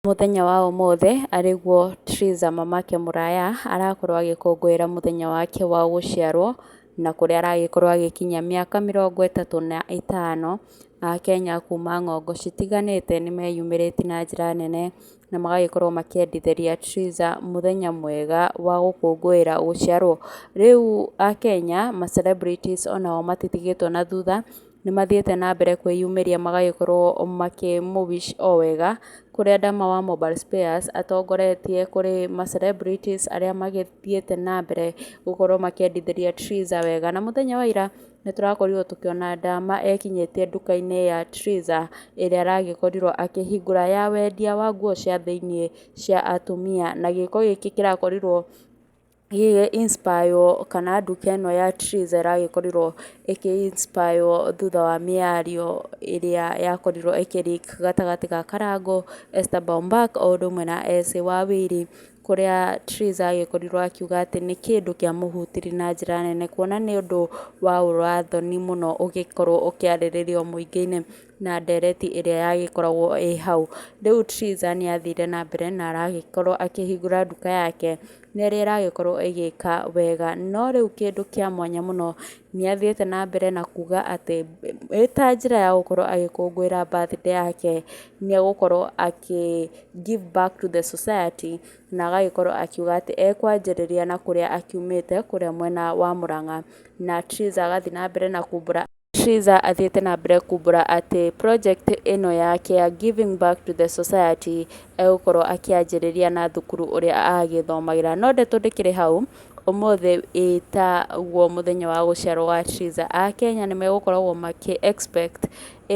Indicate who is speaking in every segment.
Speaker 1: Mũthenya wa ũmũthĩ arĩ guo Triza mamake mũraya arakorwo agĩkũngũĩra mũthenya wake wa gũciarwo, na kũrĩa aragĩkorwo agĩkinyia mĩaka mĩrongo ĩtatũ na ĩtano. Akenya kuma ng'ongo citiganĩte nĩ meyumĩrĩtie na njĩra nene na magagĩkorwo makĩendithĩria Triza mũthenya mwega wa gũkũngũĩra gũciarwo. Rĩu akenya ma celebrities onao matitigĩtwo na thutha. Nĩmathiĩte na mbere kwĩyumĩria magagĩkorwo makĩ mũ wish o wega, kũrĩa Dama wa Mobile Spares atongoretie kũrĩ ma celebrities arĩa magĩthiĩte na mbere gũkorwo makĩendithĩria Triza wega. Na mũthenya wa ira nĩtũrakorirwo tũkĩona Dama ekinyĩtie nduka-inĩ ya Triza ĩrĩa aragĩkorirwo akĩhingũra ya wendia wa nguo cia thĩiniĩ cia atumia, na gĩko gĩkĩ kĩrakorirwo ĩĩ inspire kana nduka ĩno ya Twiz ĩragĩkorirwo ĩkĩ inspire thutha wa mĩario ĩrĩa yakorirwo ĩkĩ leak gatagatĩ ga Karango, Esther Bombak o ũndũ ũmwe na Esĩ Wawiri, kũrĩa Twiz agĩkorirwo akiuga atĩ nĩ kĩndũ kĩa mũhutirie na njĩra nene kuona nĩ ũndũ waũra thoni mũno ũgĩkorwo ũkĩarĩrĩrio mũingĩ-inĩ. na ndereti ĩrĩa yagĩkoragwo ĩ hau. Rĩu Triza nĩ athire na mbere na aragĩkorwo akĩhingũra nduka yake na ĩrĩa ĩragĩkorwo ĩgĩka wega. No rĩu kĩndũ kĩa mwanya mũno nĩ athiĩte na mbere na kuga atĩ ĩĩ ta njĩra ya gũkorwo agĩkũngũĩra birthday yake nĩ egũkorwo akĩ give back to the society na agagĩkorwo akiuga atĩ ekwanjĩrĩria na kũrĩa akiumĩte kũrĩa mwena wa Mũrang'a. Na Triza agathiĩ na mbere na kumbũra... Triza athiĩte na mbere kumbũra atĩ project ĩno yake ya giving back to the society egũkorwo akĩanjĩrĩria na thukuru ũrĩa agĩthomagĩra. No ndeto ndĩkĩrĩ hau, ũmũthĩ ĩtaguo mũthenya wa gũciarwo wa Triza, Akenya nĩ megũkoragwo makĩ expect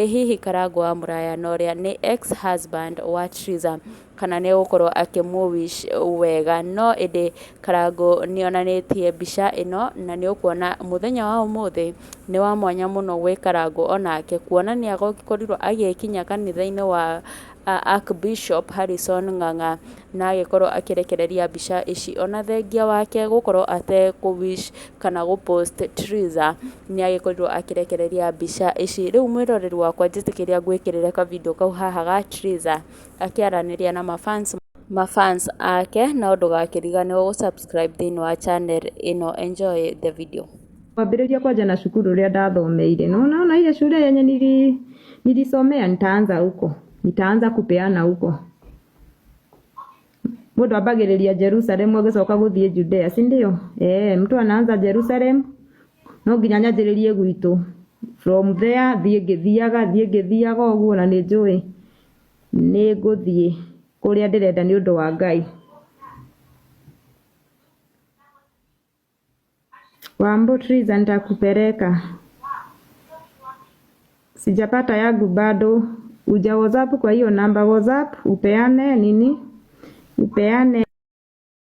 Speaker 1: ĩ hihi Karangũ wa Mũraya na ũrĩa nĩ ex husband wa Triza, kana nĩ egũkorwo akĩmũ wish wega, no ĩndĩ Karangũ nĩ onanĩtie mbica ĩno na nĩ ũkuona mũthenya wa ũmũthĩ nĩ wa mwanya mũno gwĩ Karangũ o nake, kuona nĩ akorirwo agĩkinya kanitha-inĩ wa Archbishop Harrison Ng'ang'a na agĩkorwo akĩrekereria mbica ici, ona thengia wake gũkorwo atekũ wish kana gũ post Trizah nĩ agĩkorirwo akĩrekereria mbica ici, rĩu mwĩroreri wakwa njĩtĩkĩria ngwĩkĩrĩre ka video kau haha ga Trizah akĩaranĩria na mabans mabans ake no ndũgakĩriganĩrwo gũ subscribe thĩinĩ wa channel ĩno enjoy the video Kwambĩrĩria kwanja
Speaker 2: na cukuru ũrĩa ndathomeire. No unaona ile shule yenye nili, nilisomea nitaanza huko. Nitaanza kupeana huko. Mũndũ ambagĩrĩria Jerusalem ũgĩcoka gũthiĩ Judea, si ndio? Eh, mtu anaanza Jerusalem no nginya nyanjĩrĩrie gwitũ. From there thiĩ ngĩthiaga, thiĩ ngĩthiaga ũguo na nĩ njũĩ. Nĩ ngũthiĩ kũrĩa ndĩrenda nĩ ũndũ wa Ngai. Wambutriza nitakupeleka. Sijapata yangu bado. Uja WhatsApp kwa hiyo namba WhatsApp upeane nini? Upeane